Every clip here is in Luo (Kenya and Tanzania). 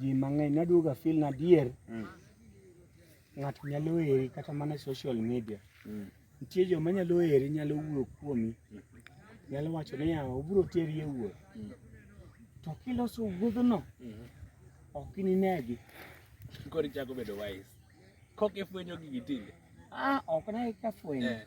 ji mang'eny naduoga feel na adier mm. ng'ato nyalo eri kata mana social media mm. nitie joma nyalo eri nyalo wuoyo kuomi mm. nyalo wacho ni ya obiro teri e wuoth mm. to kiloso wuodhno mm -hmm. ok ininegi koro ichako bedo wise kok ifwenyo gigi tinde ah ok nagi kafwenyo eh.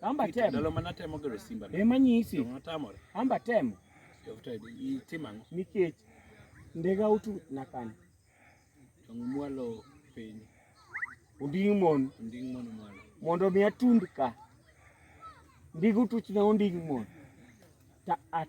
Amba temo. Ndalo mana temo gero simba. Ema nyisi. Natamore. Amba temo. Itima ang'o? Nikech ndega utu nakani. Tong' mwalo piny. Onding' mon. Onding' mon mwalo. Mondo mi atund ka. Ndigu tuchna onding' mon. Ta at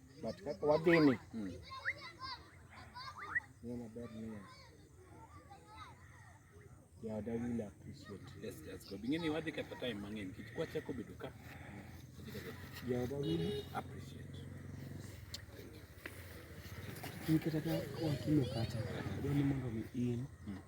But kaka wadhini mm. ng'e maber niya jaoda will appreciate. Yes, that's good. Ingeni wadhi kata time mang'eny nikech kwachako bedo ka jaoda will appreciate. Nikata ka wakimo kata dwani mondo mi in mm.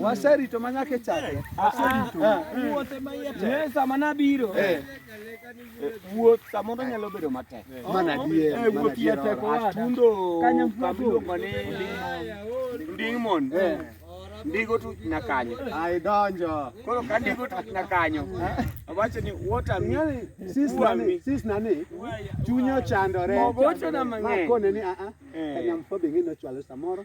Waserito ma nyaka chake. Wuoth ema iye tek. Eh, sama nabiro. Eh. Eh, wuoth samoro nyalo bedo matek. Mana dier. Eh, wuoth iye tek owadwa. Atundo. Kanyo mfuago. Ndingmon. Eh. Ndigo tu na kanyo. Ai donjo. Koro ka ndigo tu na kanyo. Awacho ni water mi. Sis nani? Sis nani? Chunyo chandore. Mogocho na mang'eny. Makone ni a ah, a. Ah. Kanyamfo bingine chwalo samoro.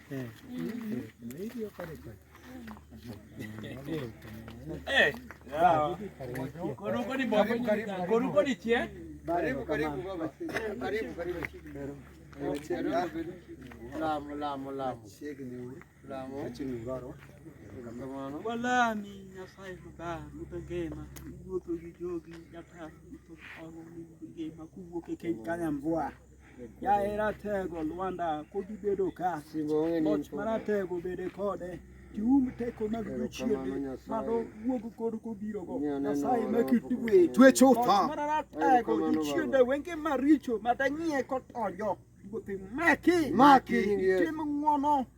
Walami Nyasaye Mabar, Ruto Ngema, iwuotho gi jogi, jataf, Ruto Ngema, kuwuok e keny kanya mbwa. Jahera tego Lwanda kod ibedo ka loch maratego bede kode tium teko mag jochiende mano wuog kod kobirogo nyasaye makitwe twe chutho maratego jochiende wenge maricho madanyie kotonjo maki maki tim ng'wono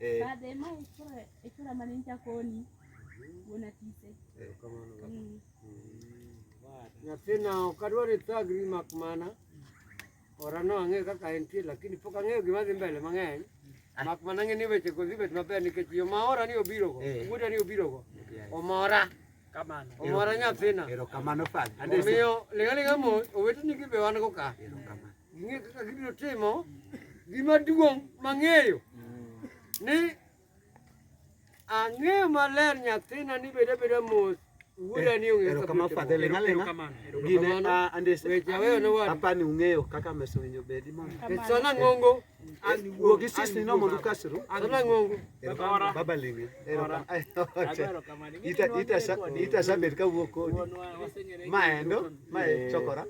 Eh. Bade ma ikura ikura mane ncha koni. Wona tise. Eh, kamano. Mm. Mm. Nyathina ok adwar ithagri mak mana orano ang'e kaka entie lakini pok ang'eyo gima dhi mbele mang'eny ah. mak mana ng'e ni weche go dhi bet maber nikech yo ma ora ni obirogo eh. wuoda ni obirogo omora omora nyathina omiyo ling'aling'a mos oweteni gi be wan go ka Ing'e kaka gibiro timo gima duong' mang'eyo ni ang'eyo maler nyathina ni beda beda mos wuoda ni ong'eyo kaka kama fadhe lenga lenga gine a andese weche aweyo ne wadu apani ung'eyo kaka meso winyo bedi mondo sana ng'ongo wuo gi sis ni no mondo ukasru sana ng'ongo baba linge ita ita ita sabet ka wuo kodi maendo mae chokora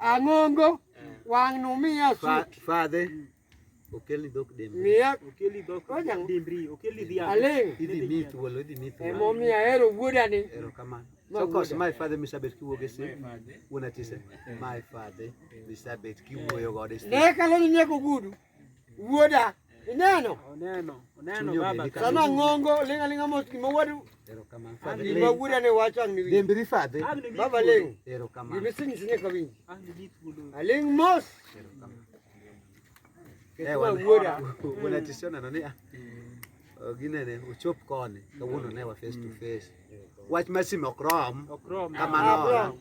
Ang'ongo wang' numiya sut. Fadhe. Okeli dhok demri. Miya. Okeli dhok demri. Okeli dhiang'. Aling. Idhi mi thuolo, idhi mi thuolo. Emo miya hero wuoda ni. Ero kamano. So kos my father misabet kiwuoge si. Wuona tise. My father misabet kiwuoyo gode si. Ne kalo ni nyako gudu. Wuoda, ineno? Oneno, oneno baba. Sama ng'ongo ling' aling'a mos gima wuodu. Erokamano. Gima wuoda ne wacho ang' niwinji. Dembri fadhe. Baba ling'. Erokamano. Gima isenyisi ni ka winji. Aling' mos. Eh, wan- Wuoda. wana tisio neno ni ah, oh, ginene ochop koni kawuono ne wa face to face wach mar sime ok rom Okrom. kamano Abram.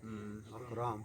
Mm, ok rom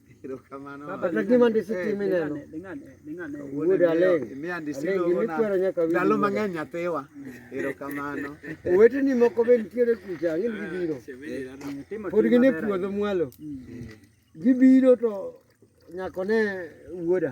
ndalo mang'eny nyathiwa erokamano oweteni moko be nitiere kucha ang'eni gibiro pod gin e puodho mwalo gibiro to nyakone wuoda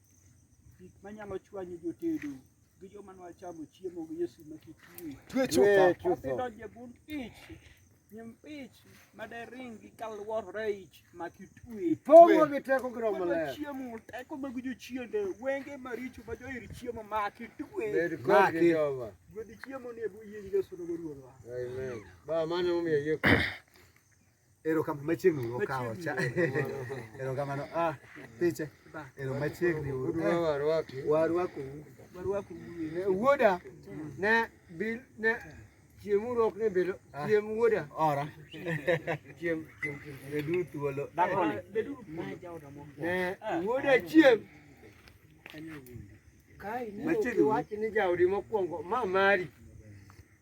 Gik manyalo chwanyo jotedo gi joma nwa chamo chiemo gi Yesu ma kitue. Twe chupa. Odonje bund ich. Nyim ich ma de ring gi kalwor reich ma kitue. Pogo gi teko gi romo le. Chiemo teko mag jo chiende wenge maricho ma jo ir chiemo ma kitue. Ma ki. Gwedi chiemo ni e bu yingi Yesu no ruwa. Amen. Ba mane umiye yeko. Ero kama machiegni uru kawo cha. Ero kama no ah piche. Ero machiegni uru. Warwaku. Warwaku. Warwaku. Wuoda ne bil ne chiemu rok ne bedo ah. chiem wuoda. Ora. Chiem chiem chiem bedu thuolo. Dakoni. Bedu. Ne wuoda chiem. Kai ni wachi ni jaudi mokwongo ma mari.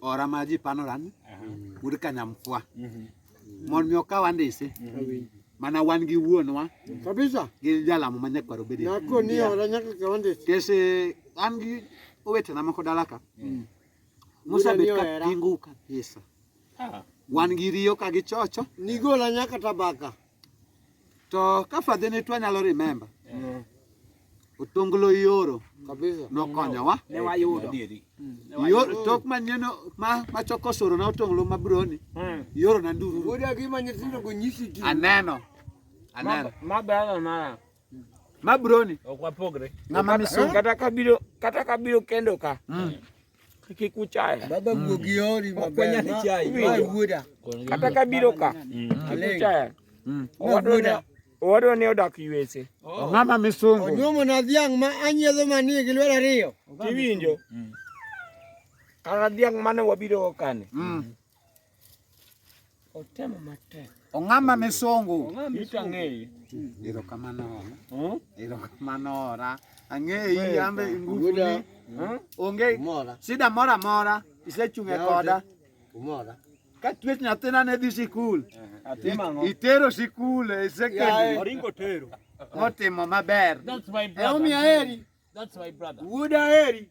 ora maji panoran wuod kanyamkwa mondo mi okaw andise mana wan gi wuonwa kabisa gi jalamo ma nyakwaro bedi nako ni ora nyaka kaw andise kese an gi owetena moko dala ka mm. musa bet ka pingu kabisa ah. wan gi riyo ka gi chocho nigola nyaka tabaka To ka fadhi ni twa nyalo remember. Yeah. Otonglo ioro. Kabisa. Nokonyowa. Ne wayudo. Ioro tok manyeno ma ma choko soro na otonglo ma broni. Hmm. Ioro na nduru. Bodi agima nyithindo go nyisi gi. Aneno. Aneno. Ma bala mara. Ma broni. Ok wapogre. Ng'ama misungu. Kata kabiro kata kabiro kendo ka. Mm. kiku chai baba mm. guogi ori makwenya ni chai ma wuoda kata ka biro ka mm. kiku chai mm. owadona owadona ne odak yuese oh. ng'ama misungu onyuomo na dhiang' ma anyiedho manie gi lwedo ariyo tiwinjo kata dhiang' mane wabiro kane Otemo matek. Ong'ama ne songo. Ito ang'eyi. Erokamano. Hmm? Erokamano ora. Ang'eyi ambe ngufuni. Hmm? Onge shida moro amora isechung' e koda. Umora. Ka twech nyathina ne dhi sikul. Eh, itero sikul e secondary. Oringo tero. Motimo maber. That's my brother. That's my brother. Wuoda heri.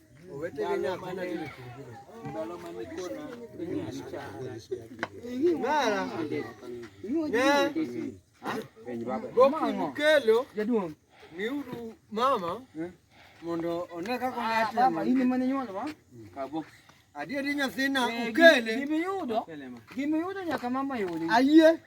Kelo jaduong' miuru mama eh? mondo one kaka ah, in mane nyuolo wa kabok adieri nyathina eh, ukele gimiyudo gimiyudo nyaka mama yudi ayie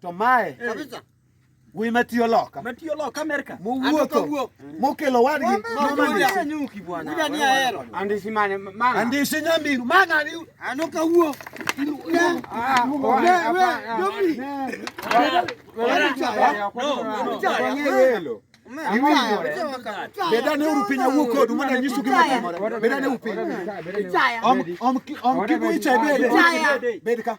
To mae eh. kabisa wi matiyo loka matiyo loka Amerika muwuotho mokelo wadgi nyuki bwana ida ni ahero andisi mane mama andisi nyamiru mang'ani ano kawuo bedane uru piny awuo kodu mondo anyisu gima timore bedane uru piny om kibu icha bede bed ka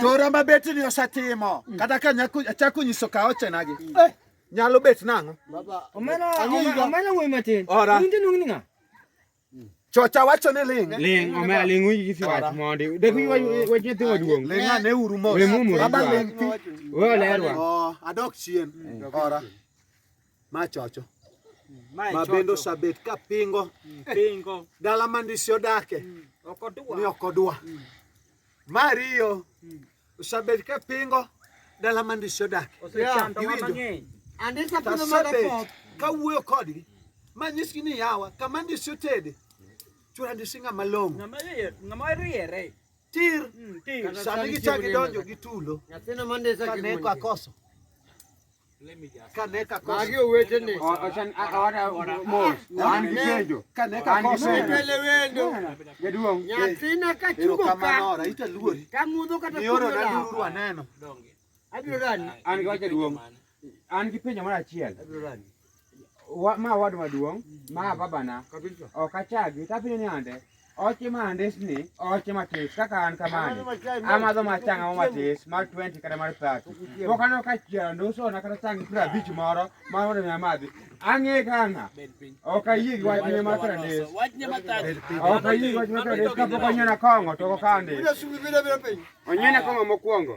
to rama bet ni osetimo mm. kata ka achako nyiso ka ochenagi mm. eh, nyalo bet nang'o chocha wacho ni ling ling omera ling uyi si wach mondi de kuyi wach nyathi waduong ling ane uru mos baba ling ti weolerwa oh, adok chien mm. ora ma chocho ma bende osabet ka pingo mm, pingo dala mandisi odake mm, ni ok odwa mm. mariyo osabet ka pingo dala mandisi odake osabet ka wuoyo kodgi ma nyisgi ni yawa kama ndisi otede chura ndisi ng'ama long'o ng'ama riere tir sani gichak gidonjo gi tulo kaneko akoso Kaneka magi owetene jaduong' nyathina kachugo ka tamudho kata abiro rani an gi wacha duong' an gi penjo mar achiel wa, ma wad maduong' ma babana ok achagi tapine ni ande oche ma andesni oche matis kaka an kamani amadho machang ang'o matis mar 20 kata mar 30 pok aneno ka chielo ndusona kata chang piero abich moro ma mondo mi amadhi ang'e kang'a ok ayie gi wachne mar piero adek ok ayie gi wachne mar piero adek kapok onyiena kong'o to ok andis onyiena kong'o mokwongo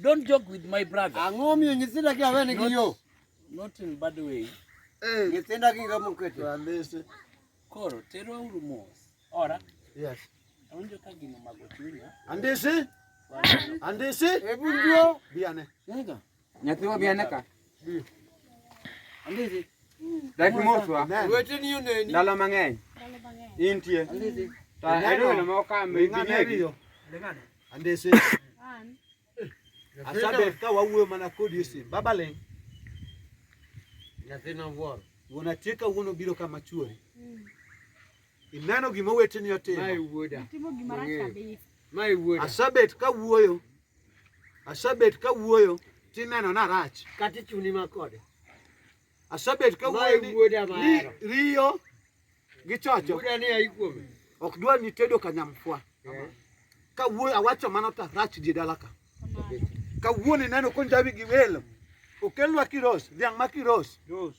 Don't joke with my brother. Ang'o miyo nyithinda kia wene gi yo? Not in bad way. Eh. Nyithinda gi ngamo kete. Walese. Koro tero uru mos. Ora. Yes. Awinjo ka gino mago chunya. Andisi? Andisi? Ebunjo. Biane. Nega. Nyathiwa biane ka. Andizi. Dak moswa. Wete ni yone ni. Dalo mang'eny. Dalo mang'eny. Intie. Andizi. Ta edo na mo ka me ng'ane yo. Leng'ane. Andizi. An. Asabe ka wawuoyo mana kod Yusuf. Baba leng. Nyathina wuoro. Wuon atie ka wuon obiro kama chuori. Mm. Ineno gima weteni otimo. Mae wuoda. Itimo gima rach kabisa. Mae wuoda. Asabet ka wuoyo. Asebet ka wuoyo tineno na rach. Kati chuni ma kode. Asebet ka wuoyo ni, ni riyo gi chocho. Wuoda ni ai kuome. Ok dwa ni tedo kanyamfwa. Yeah. Ka wuoyo awacho mano ta rach die dala ka. Ka wuoyo ni neno konjawi gi welo. Okelwa kiros, dhiang' ma kiros. Rose.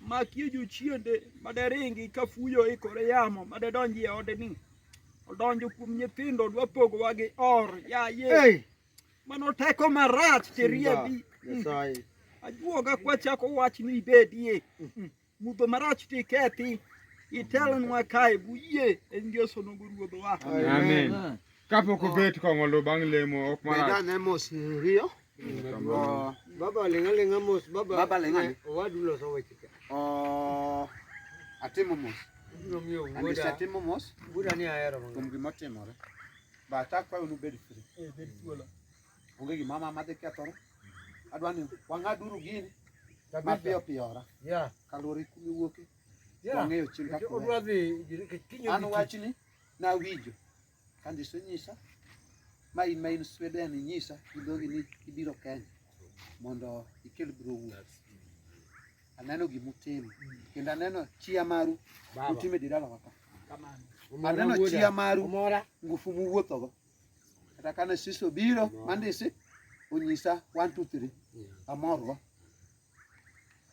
makie jochiende maderingi ka fuyo ikore yamo madedonji e odeni odonjo kuom nyithindo dwa pogowa gi or yaye hey. mano teko marach tiriebi ajuoga kwachako wach ni ibedie mm-hmm. mudho marach tikethi itelnwa kae buyie en ngeso nogo ruodhowa kapok obet kong'olo bang' lemo ok marach Oh. Baba lenga lenga mos baba. Baba lenga. Wadu lo sawa chika. Oh. Atimo mos. Biro miyo wuoda. Andisa atimo mos. Wuoda ni ahero mang'eny. Kuom gima otimore. But akwayo ni ubed free. Eh, bed thuolo. Onge gima ma madhi kethore. Adwa ni wang'aduru gini. Mapiyo piyo ora. Yeah. Kaluwore kumi wuoke. Yeah. Wang'eyo chil kaka. Odwa dhi. An wachni nawinjo. Kandi isenyisa ma in ma in Sweden inyisa gi dhogi ni ibiro Kenya mondo ikel bro wuoth. Aneno gima utimo kendo aneno chia maru utimo e dirala waka. Aneno chia maru ngufu muwuothogo. Kata kane siso biro mandisi onyisa one two three amorgo.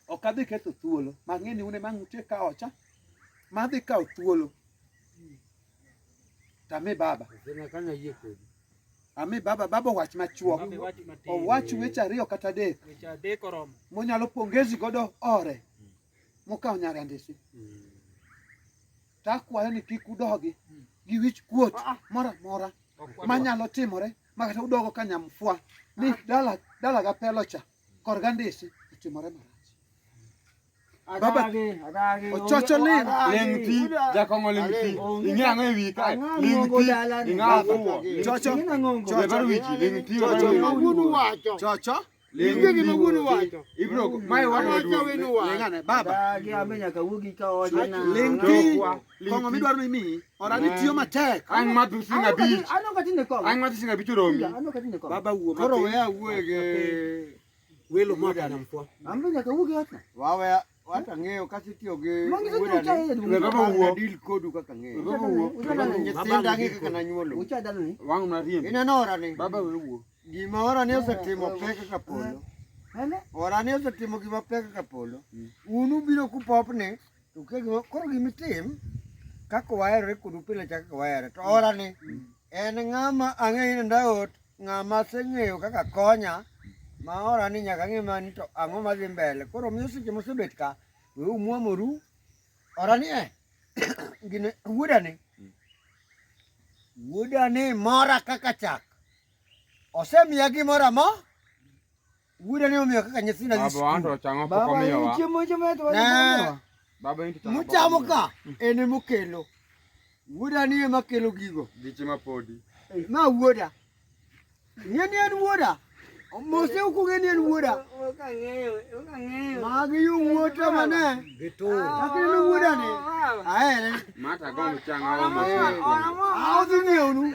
ok adhi ketho thuolo mang'e ni une mang' utie ka ocha madhi kawo thuolo tami baba ami baba baba owach machuok owach weche ariyo kata adek monyalo pongezi godo ore mokawo nyare andisi hmm. takwayo ni kik udogi hmm. gi wich kuot ah, ah. moro amora manyalo timore makata udogo ka nyamfwa ni dala dala gapelo cha korga ndese otimore marach baba ochocho ling ling ti jakong'o ling ti ing'e ang'o e wika ling ti ing'e afuwo chocho chocho wiki ling ti chocho chocho ibro mae wadwa duong' lingane baba ling ti Kong'o midwaro ni miyi. Orani tiyo matek. Ang' ma tu singa bich. Ano ka tinde kong'o. Ang' ma tu singa bich oromi. Ano ka tinde kong'o. Baba wuo matin. Koro weya wuo ge. Welo ma kana mfwa. Ambe nyaka wuo ge atna. Wawe wata ng'eyo kasi tiyo gi baba wuo deal kodu kaka ng'eyo. Baba wuo. Nyithinda ng'e kaka nanyuolo. Ucha dano ni. Wang' na riembo. Ineno orani. Baba we wuo. Gima orani osetimo pek kaka polo. Orani osetimo gima pek kaka polo. Unu biro kupopni. To kegima koro gima itim kaka waherore kodu pile cha kaka wahere to orani en ng'ama ang'eyo ni ndaot ng'ama aseng'eyo kaka konya ma orani nyaka ang'e mani to ang'o madhi mbele koro miyo seche mosebet ka we umwomoru orani e gine wuodani wuodani mora kaka chak osemiya gimoro amora Gure ne omiyo kaka nyithindo dhi skul. Baba wanto chango poko miyo wa. Chiemo chiemo to wanto. Baba inti chango. Muchamo ka en e mokelo. Wuoda ni ema kelo gigo. Giche ma podi. Eh, ma wuoda. Ng'e ni en wuoda. Mose ok ong'e ni en wuoda. Ok ang'eyo, ok ang'eyo. Magi yo wuota mane? Gitu. Kaka en wuoda ni. Ahere. Mata gombo chango. Aodhi ng'eyo nu.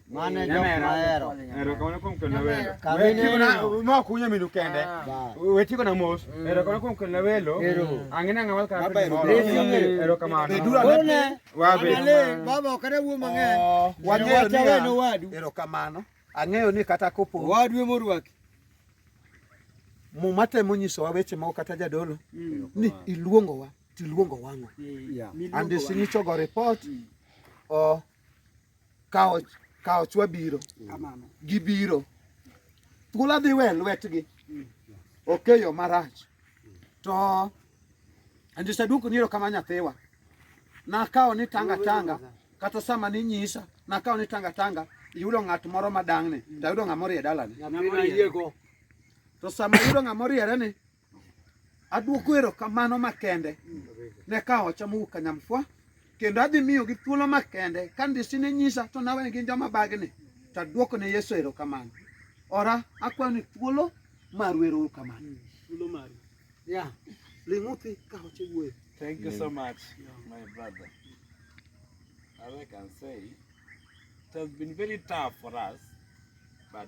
Mane jo mahero. Ero kamano kuom kendo welo. Wetiko na ma kunyo minu kende. Wetiko na mos. Ero kamano kuom kendo welo. Angina ngamal ka. Ero kamano. One. Wabe. Baba okare wuo mang'eny. Wang'eyo ni wenu wadu. Ero kamano. Ang'eyo ni kata kopo. Wadu e morwaki. Muma temo nyisowa weche moko kata jadolo ni iluongowa tiluongo wang'o. And sinyichogo report or kawo kawo chwa biro kamano gibiro thuola dhi we lwetgi okeyo marach to andisa duoko ni erokamano nyathiwa nakawo ni tanga tanga kata sama ninyisa nakawo ni tanga tanga yudo ng'at moro madang'ni tayudo ng'ama orie dalani to sama yudo ng'ama oriere ni Adwoko erokamano makende ne ka ocha mowuok Kanyamfwa kendo adhi miyogi thuolo makende ka ndisi ne nyisa to nawe gin joma bagni to adwoko ne Yesu erokamano. Ora akwayo ni thuolo maru erokamano. Thuolo maru. Yeah. Ling'uthi ka ocha wuoyo. Thank you so much, my brother. As I can say, it has been very tough for us, but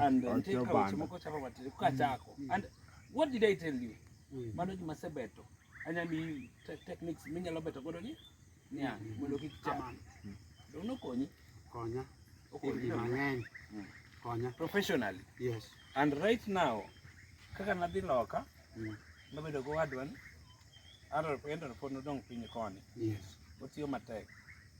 and then take out chimoko chapa batiri kuka mm. chako mm. and what did i tell you mm. mano juma sebeto anyami techniques minyalo beto godo ni nya mondo kik chama do no konyi konya okonyi mang'eny konya professionally yes and right now kaka nadhi loka nabedo go wadwan Arab endo no pod nodong' piny koni yes otiyo matek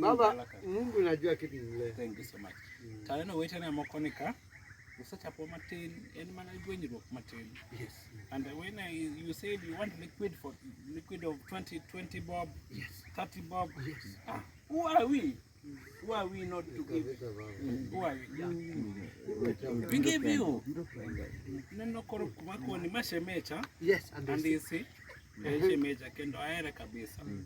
Baba, Mungu najua kitu mle. Thank you so much. Mm. Tayana weta na mokonika. Usachapo matin en mana gwenyruok matin. Yes. And when I, you said you want liquid for liquid of 20 20 bob. Yes. 30 bob. Yes. Ah, who are we? Who are we not to give? Who are we? Yeah. We give you. Neno koro kuma kwa ni mashemecha. Yes, and this. And this. Eh, shemecha kendo aere kabisa. Mm.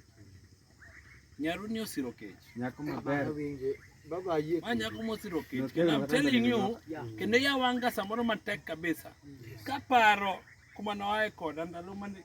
Nyaru ni osiro kech. Nyako maber. Baba ayie. Ma nyako mosiro kech. Kendo I'm telling you, kendo ya wanga samoro matek kabisa. Kaparo kuma noae koda ndalo mane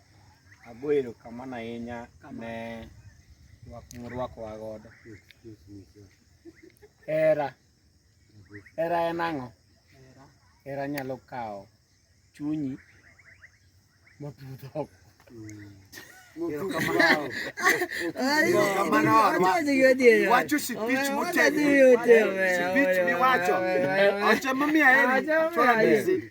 Ago erokamano ahinya ne rwak murwakowa godo. Hera, hera en ang'o? Hera nyalo kawo chunyi mapudho oko. Wacho sipich motegno, sipich miwacho, oche mamiyo aheri, chora ndizi.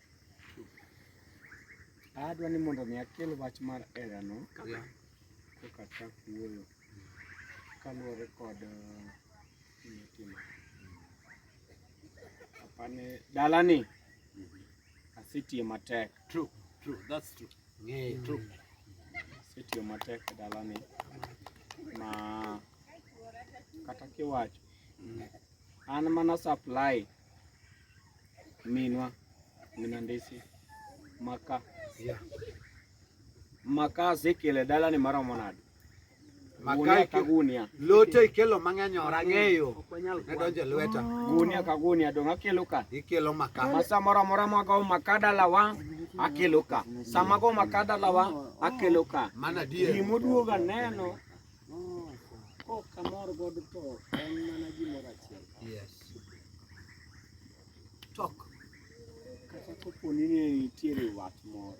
Adwa ni mondo mi akel wach mar erano koka chak wuoyo kaluwore kod gima apani dalani asetiyo matek true true that's true yeah, true asetiyo matek e dalani ma kata kiwacho an mana supply Minwa, Minandisi, Maka. Yeah. Maka sekele dala ni mara monad. Maka ka gunia. Lote ikelo mang'eny ora ng'eyo. Ne donje lweta. Gunia ka gunia donga kelo ka. Ikelo maka. Masa mora mora mago maka dala wa akelo ka. Sama go maka dala wa akelo ka. Mana die. Gimuduoga neno Kamor god to en mana gimoro achiel. Yes. Tok. Kata kopo ni ne nitiere wat moro.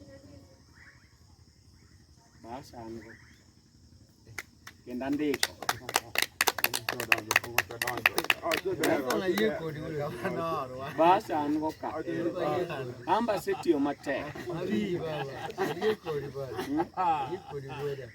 Bas an go. Kendo andiko. Bas an go ka. Amba setiyo matek.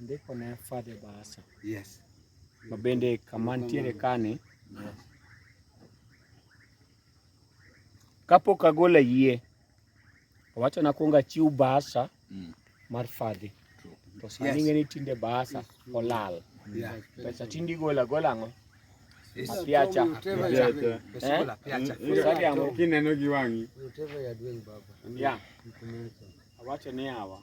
Ndiko ne Father Barasa. Yes. Ma bende kama nitiere kani. Yes. Kapok agolo yie, owacho na kuonga chiw Barasa mm. mar Father. To sani yes. ng'eni tinde Barasa olal. Yeah. Pesa tindi gola gola ng'o? Apiacha. Kineno gi wang'i. Yeah. Awacho ni hawa.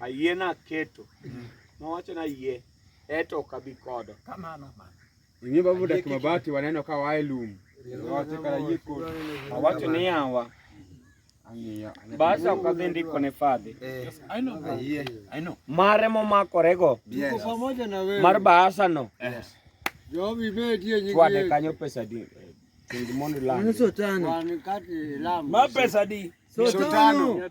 ayie naketo nowacho na yie eto ok abi kodo kamano ing'e babu dak mabati waneno ka wae lum wawacho kara yie kodo awacho ni yawa basi ok adhi ndiko ne fadhi mare momakorego mar baasano chwade kanyo pesa di chengi mondo ilam. Mano sotano. Wan kati lamu. Ma pesa di. Sotano.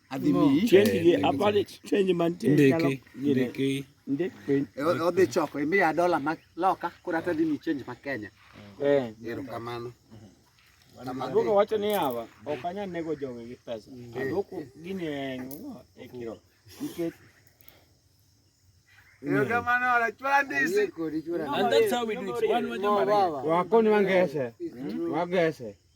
odhi choko imiya dola ma loka koro ata dhi mi change ma Kenya. Eh. Erokamano. Aduoko wacho ni hawa ok anyal nego jogi gi pesa. Mm. Aduoko gini en e kiro. Nikech Wakoni wangese. Wangese.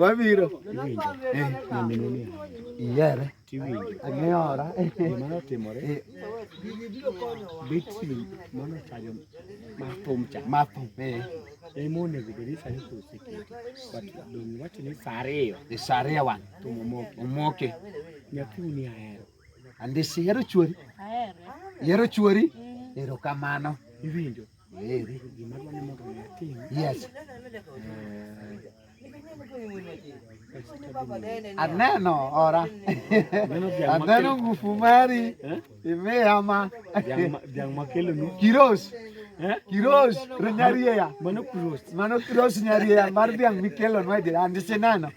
wabiro iyiere ang'eyora gimanotimore betri manochayo mathum cha mathum emonego bed ni sani koro oseketi but donge wacho ni sa ariyo sa ariyo wan omoke nyathi uni ahero Andisi ihero chuori? Ahere. Ihero chuori? Mm. Erokamano. Iwinjo? Eri. Gima dwani mondo atim. Yes. Aneno ora. Aneno ngufu mari. Eh? Imeyama. Dhiang' makelo nu. Kiros. Eh? Kiros. Nyarieya. Mano kiros. Mano kiros nyarieya mar dhiang' mikelo nwa jirani. Andisi neno.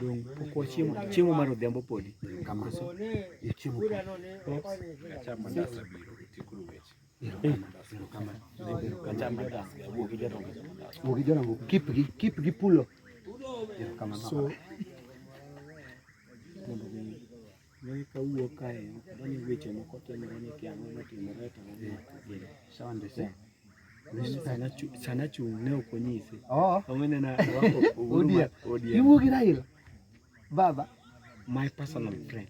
Dong pok wachiemo chiemo mar odhiambo podi. Kamano. Chiemo. Wuogi jorango kip gi kip gi pulo. So sana chung' ne ok onyise oh. iwuo gi Raila baba my personal friend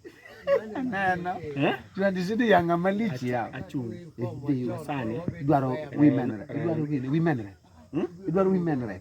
neno eh? tuandisidi yanga malich ya achung' eh, sani idwaro women idwaro women idwaro women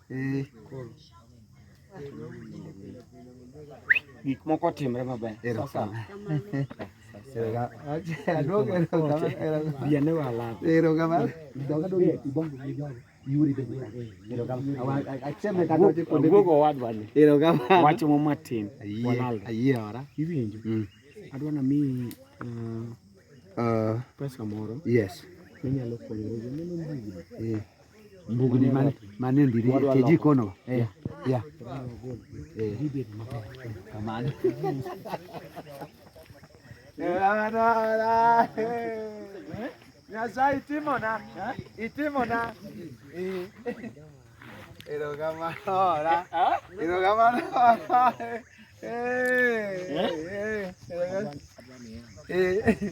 Eh. Gik moko timre maber. Wacho mo matin. Ayie ora. Iwinjo. Mm. Adwa na mi uh, uh, pesa moro. Yes. Minyalo konyo. Eh. mbugni man man e ndiri e jikono eh yeah eh ribet maber kamano Nyasaye itimona itimona erokamano ora erokamano ora eh eh eh